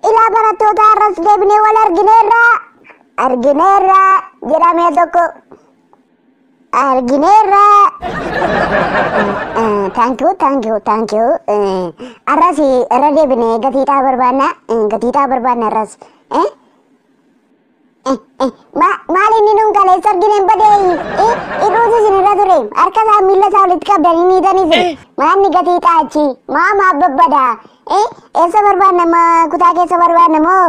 Ilaa barattoota har'as deebinee wal argineerra argineerra jedhamee tokko argineerra taankiyuu taankiyuu taankiyuu arras irra deebine gatiidhaa barbaanna gatiidhaa barbaanna arras maal inni nuun kaleessa argineen badee hidhuutu isin irra ture harka isaa miila isaa walitti qabdanii miidhan isin maanni gatiidhaa achi maa maa babbadaa eessa barbaanna kutaa keessa barbaanna moo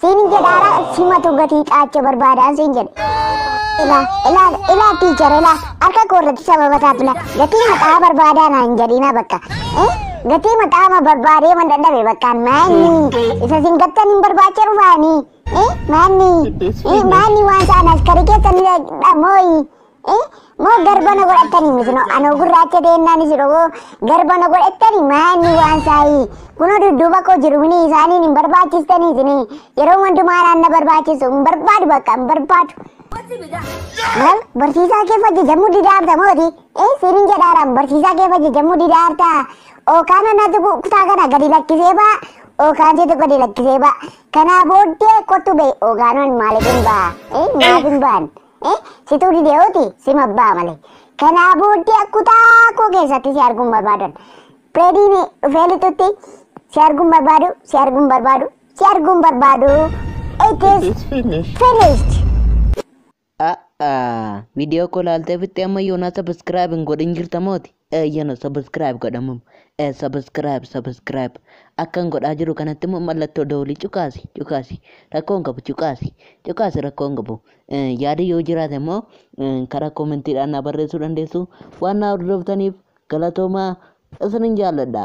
Siinin jedha ala simatu gatii xaacha barbaadaan siin jedhe. Ila ila ila tiichar ila harka koo irratti sababa taatula gatii maqaa barbaadaa naan jedhina bakka. Eh gatii maqaa ma barbaadee man dadhabe bakkaan maanni isa sin gattan hin barbaacha dhufaani. Eh maanni eh maanni waan saan askari keessan dhamooyi. Eh, moo garba na godhattani miti no anoo gurraacha deennaanis dhogoo garba na godhattani maanni waan saayii kunoo dudduuba koo jiru kuni isaaniin hin barbaachistani isini yeroo hundumaa naan na barbaachisu hin barbaadu bakka hin barbaadu. Maal barsiisaa kee fajjajamuu didaarta mooti ee sirin jedhaaraan barsiisaa kee fajjajamuu didaarta ookaan anatu kutaa kana gadi lakkisee baa ookaan seetu gadi lakkisee baa kanaa booddee kottu bee ookaanoon maaliif hin baa ee maaf hin baan. Eh, situu dideewooti sim abbaa malee. Kanaa booddee akkutaa koo keessatti si arguun barbaadan. Pireediin dhufee lixutti si arguun barbaadu, si arguun barbaadu, si arguun barbaadu. It is It's finished. finished. A'a, viidiyoo koo laaltee fixxee amma yoonaa sabiskiraayib hin godhin jirta mooti. Eeyyena subscribe godha mum. Eh subscribe subscribe akkan godhaa jiru kanatti immoo mallattoo dawlii cuqaasi cuqaasi rakkoon qabu cuqaasi cuqaasi rakkoon qabu Eh, yaada yoo jiraate immoo eh, karaa koomentiidhaan na barreessuu dandeessu waan na hordoftaniif galatoomaa isinin jaalladha.